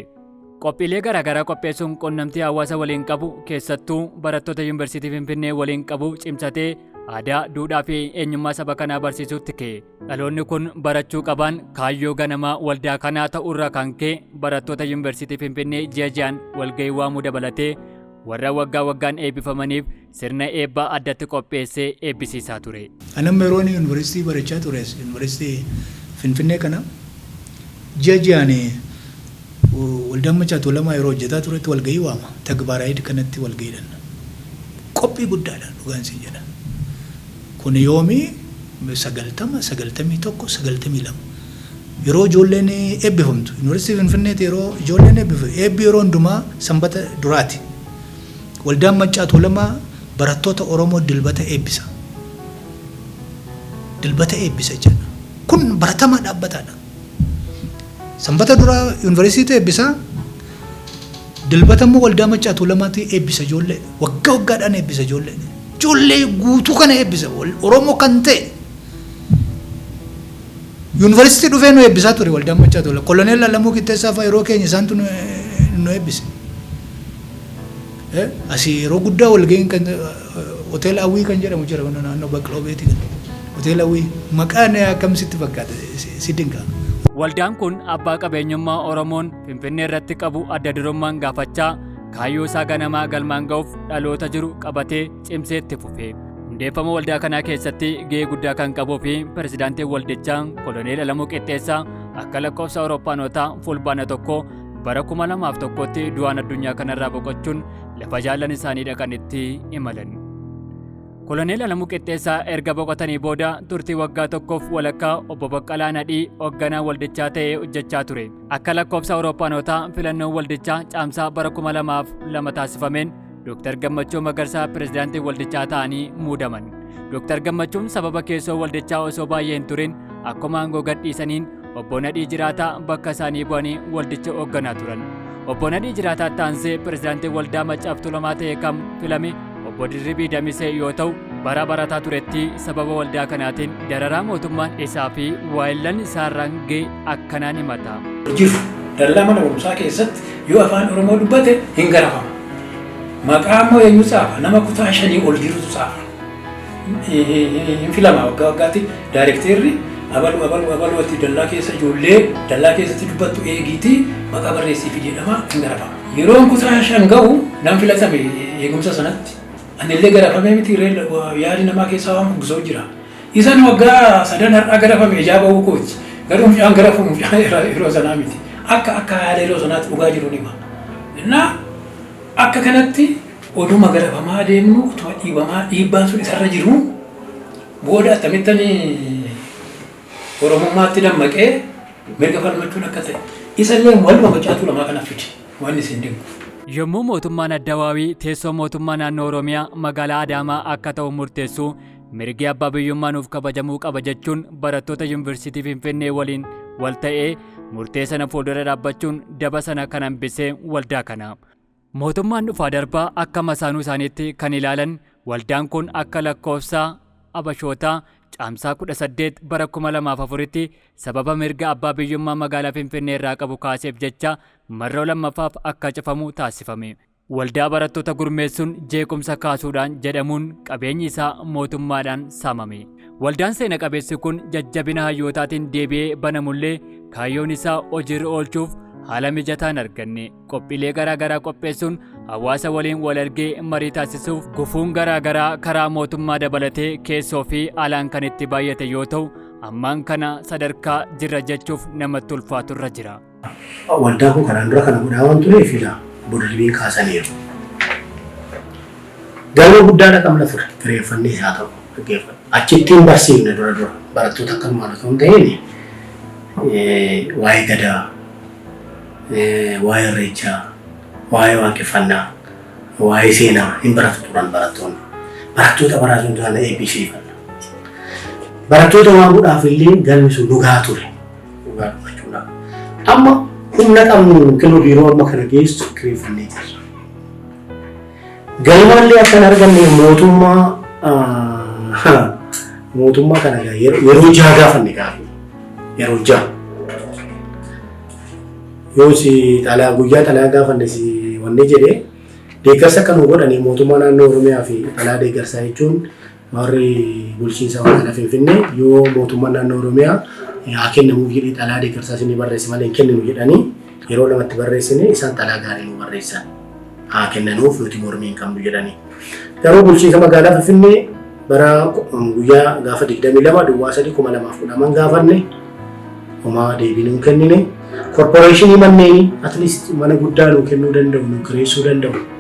Qophiilee garaagaraa qopheessuun qunnamtii hawaasa waliin qabu keessattuu barattoota Yuunivarsiitii Finfinnee waliin qabu cimsatee aadaa, duudhaa fi eenyummaa saba kanaa barsiisuutti ka'e. Dhaloonni kun barachuu qabaan kaayyoo ganamaa waldaa kanaa ta'uurraa kan ka'e barattoota Yuunivarsiitii Finfinnee ji'a ji'aan walgahii waamuu dabalatee warra waggaa waggaan eebbifamaniif sirna eebbaa addatti qopheessee eebbisiisaa ture. Ani amma yeroon yunivarsiitii barachaa ture as yunivarsiitii Finfinnee kana ji'a ji'aan waldaan Machaa Tuulamaa yeroo hojjetaa turetti walga'ii waama. Tagbaaraayid kanatti walga'iidhan qophii guddaadha dhugaan siin jedha. Kun yoomi 90, 91, 92 yeroo ijoolleen eebbifamtu yunivarsiitii Finfinneetti yeroo ijoolleen eebbifu eebbi yeroo hundumaa sanbata duraati. Waldaan Maccaa Tuulamaa barattoota Oromoo Dilbata eebbisa. Dilbata eebbisa jechaadha. Kun baratamaa dhaabbataadha. Sanbata dura yuunivarsiitiitu eebbisa. Dilbata immoo waldaa Maccaa Tuulamaatu eebbisa ijoollee. Waggaa waggaadhaan eebbisa ijoollee. Ijoollee guutuu kana eebbisa. Wal- Oromoo kan ta'e yuunivarsiitii dhufee nu eebbisaa ture waldaan Maccaa Tuulamaa. Koloneel Alamuu Qixxeessaa fa'a yeroo keenya isaantu nu nu eebbise. Asii yeroo guddaa walga'iin kan hoteela Awwii kan jedhamu jira kun naannoo Baqloo Beetii kan hoteela Awwii maqaan akkam sitti fakkaata si dinqa. Waldaan kun abbaa qabeenyummaa Oromoon Finfinnee irratti qabu adda durummaan gaafachaa kaayyoo isaa ganamaa galmaan ga'uuf dhaloota jiru qabatee cimsee itti fufe. Hundeeffama waldaa kanaa keessatti gahee guddaa kan qabuu fi pirezidaantiin waldichaa Koloneel Alamuu Qixxeessaa akka lakkoofsa Awurooppaanotaa fulbaana tokko bara 2001tti du'aan addunyaa kanarraa boqochuun lafa jaallan isaanii dhaqanitti imalan. Koloneel Alamuu Qixxeessaa erga boqotanii booda turtii waggaa tokkoof walakkaa obbo Baqqalaa Nadhii hoogganaa waldichaa ta'ee hojjechaa ture. Akka lakkoofsa Awurooppanotaa filannoon waldichaa caamsaa bara 2002 taasifameen Dooktar Gammachuu Magarsaa pirezidaantii waldichaa ta'anii muudaman. Dooktar Gammachuun sababa keessoo waldichaa osoo baay'ee hin turin akkuma aangoo gadhiisaniin obbo Nadhii Jiraataa bakka isaanii bu'anii waldicha hoogganaa turan. Obbo Nadhii Jiraataa taansee pirezidaantii waldaa Maccaaf Tuulamaa ta'e kam filame obbo Dirribii Damisee yoo ta'u bara barataa turetti sababa waldaa kanaatiin dararaa mootummaan isaa fi waayillan isaarraan ga'e akkanaan himata. Hojiif dallaa mana barumsaa keessatti Yoo afaan Oromoo dubbate hin garafama. Maqaa immoo eenyu tsaafa? Nama kutaa shanii ol jirutu tsaafa. Hin filama waggaa waggaatti daayirekteerri abalu abalu abalu ati dallaa keessa ijoollee dallaa keessatti dubbattu eegiitii maqaa barreessiifi jedhama hin garafama. Yeroon kutaa shan ga'u nan filatame eegumsa sanatti. Anillee garafamee miti ree yaadi namaa keessaa waan bubbisoo jira. Isan waggaa sadan har'aa garafame ijaa ba'uu kooti. Garuu mucaan garafamu mucaa yeroo sanaa miti. Akka akka haala yeroo sanaatti dhugaa jiru nima. Innaa akka kanatti oduma garafamaa deemnu utuma dhiibamaa dhiibbaan sun isarra jiru booda attamittan Oromummaatti dammaqee mirga falmachuun akka ta'e. Isallee waluma mucaa Tuulamaa kana fide wanni isin dinqu. Yommuu mootummaan Addawaawii teessoo mootummaa naannoo Oromiyaa magaalaa Adaamaa akka ta'u murteessu Mirgi abbaa biyyummaa nuuf kabajamuu qaba jechuun barattoota Yuunivarsiitii Finfinnee waliin wal ta'ee murtee sana fuuldura dhaabbachuun daba sana kan hambisee waldaa kana. Mootummaan dhufaa darbaa akka masaanuu isaaniitti kan ilaalan waldaan kun akka lakkoofsa Abashootaa caamsaa 18 bara 2004tti sababa mirga abbaa biyyummaa magaalaa Finfinnee irraa qabu kaaseef jecha marroo lammaffaaf akka cufamu taasifame. Waldaa barattoota gurmeessuun jeequmsa kaasuudhaan jedhamuun qabeenyi isaa mootummaadhaan saamame. Waldaan seena qabeessi kun jajjabina hayyootaatiin deebi'ee banamullee kaayyoon isaa hojiirra oolchuuf haala mijataa hin arganne. Qophiilee garaa garaa qopheessuun hawaasa waliin wal argee marii taasisuuf gufuun garaa garaa karaa mootummaa dabalatee keessoo fi alaan kan itti baay'ate yoo ta'u ammaan kana sadarkaa jirra jechuuf namatti ulfaatu irra jira. Waldaa koo kanaan dura kana godhaa waan tureef ilaa boda debiin kaasaniiru. Galma guddaadha qabna ture kireeffannee isaa ta'u dhaggeeffadha. Achitti hin barsiifne dura dura barattoota akka maal osoo hin ta'in waa'ee gadaa, waa'ee irreechaa, waa'ee waaqeffannaa, waa'ee seenaa hin baratu turan barattoonni. Barattoota baraasuun taana eebbisiifanna. Barattoota waamuudhaaf illee galmi sun dhugaa ture. Dhugaa dubbachuudhaaf. Amma humna qabnu yookiin biiroo amma kana geessu kireeffannee jirra. Galmaallee akka hin arganne mootummaa mootummaa kana yeroo jaha gaafanne gaafanne yeroo jaha. Yoo si xalaa guyyaa xalaa gaafanne si wanni jedhee deeggarsa akka nu godhanii mootummaa naannoo Oromiyaa fi xalaa deeggarsaa jechuun Warri bulchiinsa magaalaa Finfinnee yoo mootummaan naannoo Oromiyaa haa kennamuuf jedhee xalaa deeggarsaa isinii barreesse malee hin kenninu jedhanii yeroo lamatti barreessine isaan xalaa gaarii nu barreessan haa kennanuuf nuti mormii hin qabnu jedhanii. Garuu bulchiinsa magaalaa Finfinnee bara guyyaa gaafa 22 duwwaa 3 2010 gaafanne homaa deebii nu kennine. Korporeeshinii manneenii atleast mana guddaa nu kennuu danda'u nu kireessuu danda'u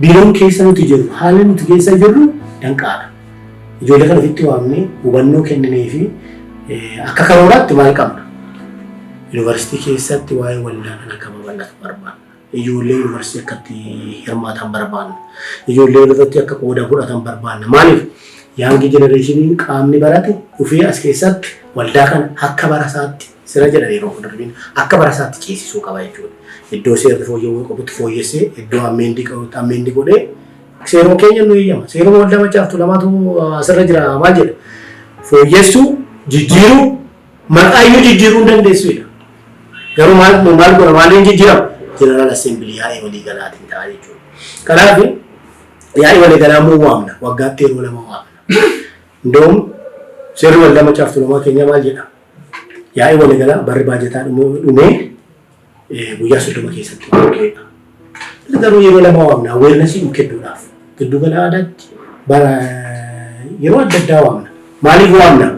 Biiroon keessa nuti jirru, haalli nuti keessa jirru danqaadha. Ijoollee kana ofitti waamnee hubannoo kennineefi akka karooraatti maal qabna? Yuunivarsiitii keessatti waa'ee waldaa kana akka babal'atu barbaanna. Ijoollee yuunivarsiitii akka itti hirmaatan barbaanna. Ijoollee irratti akka qooda fudhatan barbaanna. Maaliif? Yaangi jenereeshiniin qaamni barate dhufee as keessatti waldaa kana akka barasaatti Sirra jedhan yeroo fuuldura deebiin akka barasaatti ceesisuu qaba jechuudha. Iddoo seerri fooyya'uu qabutti fooyyessee iddoo ammeendii qabutti ammeendii godhee seeruma keenya nu eeyyama. Seeruma waldaa machaaf tulamaatu asirra jira maal jedha? Fooyyessuu, jijjiiruu, maqaayyuu jijjiiruu hin dandeessuudha. Garuu maal maal godha maaliin jijjiirama? Jeneraal Assembilii yaa'ii walii galaatiin ta'a jechuudha. Kanaaf yaa'ii walii galaa immoo waamna. Waggaatti yeroo lama waamna. Indoom seerri waldaa machaaf tulamaa keenya maal jedha? Yaa'ii waliigalaa barri baajataa dhumuu dhumee eh, guyyaa soddoma keessatti gaggeeffa. Garuu yeroo lama waamna awareness nu kennuudhaaf giddu gala aadaatti bara yeroo adda addaa waamna. Maaliif waamna?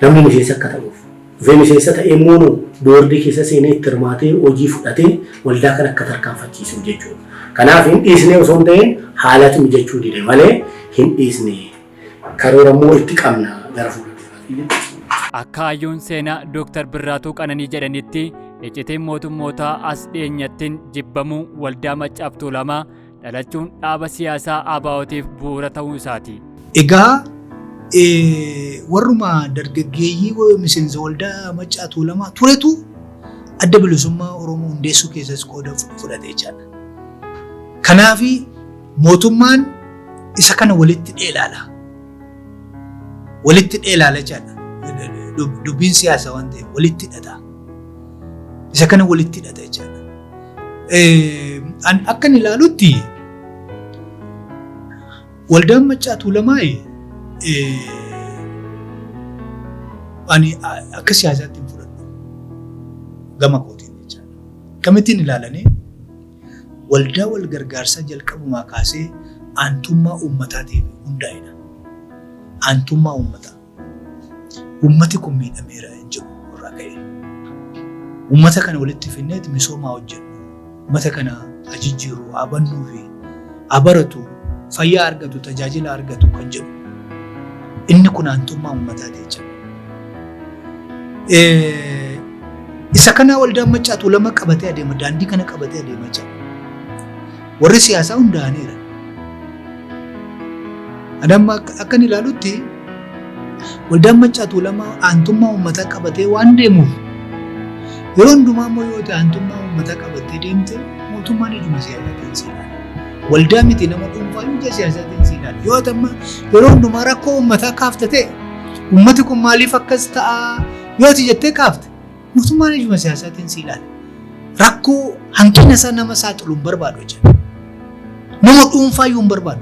Namni miseensa akka ta'uuf. Dhufee miseensa ta'ee immoo nu boordii keessa seenee itti hirmaatee hojii fudhatee waldaa kan akka tarkaanfachiisuuf jechuudha. Kanaaf hin dhiisne osoo hin ta'in haalatu mijachuu dide malee hin dhiisne Karoora immoo itti qabna gara fuulduraatti. Akka hayyuun seenaa Dooktar Birraatuu Qananii jedhanitti iccitiin mootummootaa as dhiyeenyattiin jibbamuu waldaa Maccaaf Tuulamaa dhalachuun dhaaba siyaasaa ABOtiif bu'uura ta'uu isaati. Egaa warruma dargaggeeyyii miseensa waldaa Maccaa Tuulamaa turetu adda bilisummaa Oromoo hundeessuu keessas qooda fudhate jechaadha. Kanaaf Mootummaan isa kana walitti dheelaala. Walitti dheelaala jedha. Dubbiin siyaasa waan ta'eef walitti hidhata. Isa kana walitti hidhata jechaadha. An akkan ilaalutti waldaan maccaa tuulamaa ani akka siyaasaatti hin fudhadhu gama kootiin jechaadha. Akkamittiin ilaalanii waldaa walgargaarsaa jalqabumaa kaasee aantummaa uummataatiif hundaa'edha. Aantummaa uummataa. Uummati kun miidhameera jedhu irraa ka'e. Uummata kana walitti finneet misoomaa hojjennu. Uummata kana ajijjiiru, abannuu fi abaratu, fayyaa argatu, tajaajila argatu kan jedhu. Inni kun aantummaa uummataati jechuudha. Isa kanaa waldaan macaatuu lama qabatee adeema daandii kana qabatee adeema jira. Warri siyaasaa hundaa'aniira. Adamma akkan ilaalutti waldaan macaatuu lama aantummaa uummataa qabatee waan deemuuf yeroo hundumaa immoo yoo ta'e aantummaa uummataa qabattee deemte mootummaan ijuma siyaasaatiin si ilaala. Waldaa miti nama dhuunfaa ija siyaasaatiin si ilaala. Yoo ta'e yeroo hundumaa rakkoo uummataa kaaftatee Uummati kun maaliif akkas ta'a yoo ati jettee kaafte mootummaan ijuma siyaasaatiin si ilaala. Rakkoo hanqina isaa nama saaxilu hin barbaadu jechuudha. Nama dhuunfaa iyyuu hin barbaadu.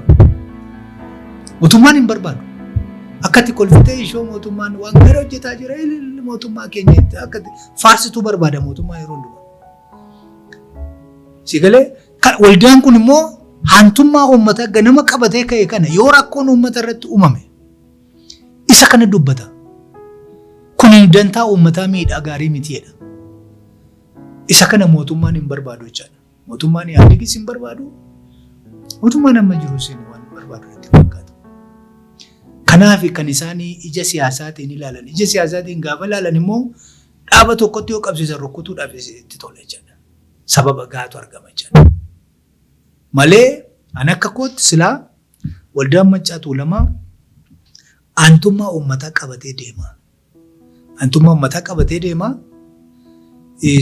Mootummaan hin barbaadu. Akkatti kolfitee ishoo mootummaan waan gara hojjetaa jira ililli mootummaa keenya itti akkatti faarsituu barbaada mootummaa yeroo hundumaa. Si galee kan- waldaan kun immoo hantummaa uummataa ganama qabatee ka'e kana yoo rakkoon uummata irratti uumame Isa kana dubbata. Kun dantaa uummataa miidhaa gaarii miti jedha. Isa kana mootummaan hin barbaadu jechaadha. Mootummaan Ihaadeegis hin barbaadu. Mootummaan amma jiru isin waan barbaadu natti fakkaata. Kanaaf kan isaan ija siyaasaatiin ilaalan. Ija siyaasaatiin gaafa ilaalan immoo dhaaba tokkotti yoo qabsiisan rukkutuudhaaf itti tola jechaadha. Sababa gaatu argama jechaadha. Malee an akka kootti silaa Waldaan Maccaa Tuulamaa aantummaa uummataa qabatee deema. Aantummaa uummataa qabatee deema.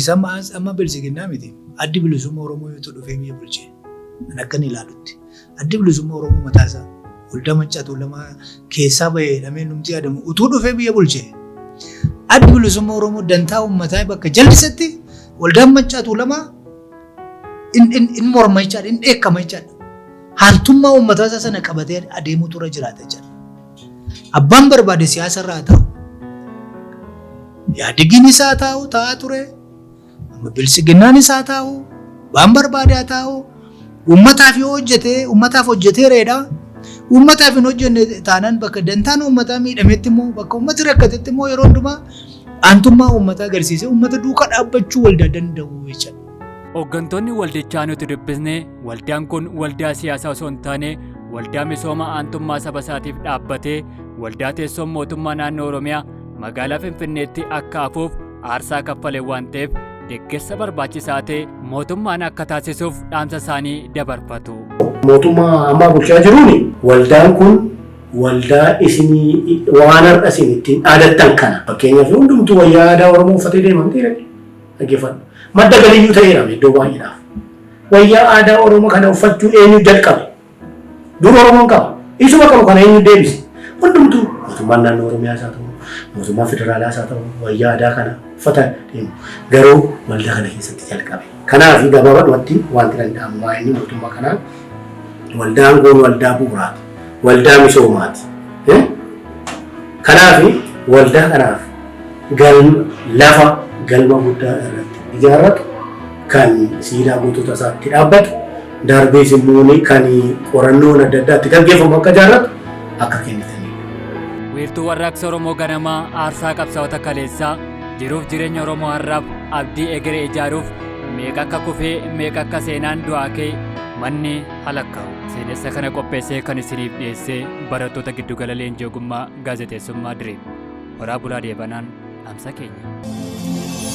Sama as amma bilisiginnaa miti. Addi bilisummaa Oromoo yoo dhufee biyya bulche. Kan akkan ilaalutti. Addi bilisummaa Oromoo mataa isaa waldaa Maccaa Tuulamaa keessaa bahee jedhamee numti yaadamu utuu dhufee biyya bulche. Addi bilisummaa Oromoo dantaa uummataa bakka jallisetti waldaan Maccaa Tuulamaa in morma jechaadha, in dheekkama jechaadha. Haaltummaa uummataa isaa sana qabatee adeemuutu irra jiraata jedha. Abbaan barbaade siyaasa irra haa taa'u. Yaadigiin isaa haa taa'u taa'aa ture. Amma bilisiginnaan isaa haa taa'u. Abbaan barbaade haa taa'u. Uummataaf yoo hojjete uummataaf hojjetee reedha. Uummataaf hin hojjenne taanaan bakka dantaan uummataa miidhametti immoo bakka uummati rakkatetti immoo yeroo hundumaa aantummaa uummataa agarsiisee uummata duuka dhaabbachuu waldaa danda'u jechuudha. Hooggantoonni waldichaa nuti dubbisne waldaan kun waldaa siyaasaa osoo hin taane waldaa misooma aantummaa saba isaatiif dhaabbatee waldaa teessoon mootummaa naannoo Oromiyaa magaalaa Finfinneetti akka hafuuf aarsaa kaffale waan ta'eef deeggarsa barbaachisaa ta'e mootummaan akka taasisuuf dhaamsa isaanii dabarfatu. Mootummaa ammaa bulchaa jiruun waldaan kun waldaa isinii waan har'a isin ittiin dhaadattan kana fakkeenyaaf hundumtuu wayyaa aadaa Oromoo uffatee deema miti Dhaggeeffadhu. Madda galiyyuu ta'eerame iddoo baay'eedhaaf. Wayyaa aadaa Oromoo kana uffachuu eenyu jalqabe? Dur Oromoon qaba. Isuma qabu kana eenyu deebise? Hundumtuu mootummaan naannoo Oromiyaas haa ta'u, mootummaa federaalaas haa ta'u, wayyaa aadaa kana uffata deemu. Garuu waldaa kana keessatti jalqabe. Kanaaf gabaabadhumatti wanti danda'amu waa'ee mootummaa kanaa Waldaa aangoon waldaa bu'uuraati. Waldaa misoomaati. Eh? Kanaaf waldaa kanaaf galma lafa galma guddaa irratti ijaarratu kan siidaa gootota isaatti dhaabbatu darbees immoo ni- kan qorannoon adda addaatti gaggeeffamu akka ijaarratu akka kennitaniidha. Wiirtuu warraaqsa Oromoo ganamaa aarsaa qabsaa'ota kaleessaa Jiruuf jireenya Oromoo har'aaf abdii egeree ijaaruuf meeqa akka kufee meeqa akka seenaan du'aa kee manni halakkaa'u. Seenessa kana qopheessee kan isiniif dhiyeessee barattoota giddugala leenjii ogummaa gaazexeessummaa Direem. Horaa bulaa deebanaan dhaamsa keenya.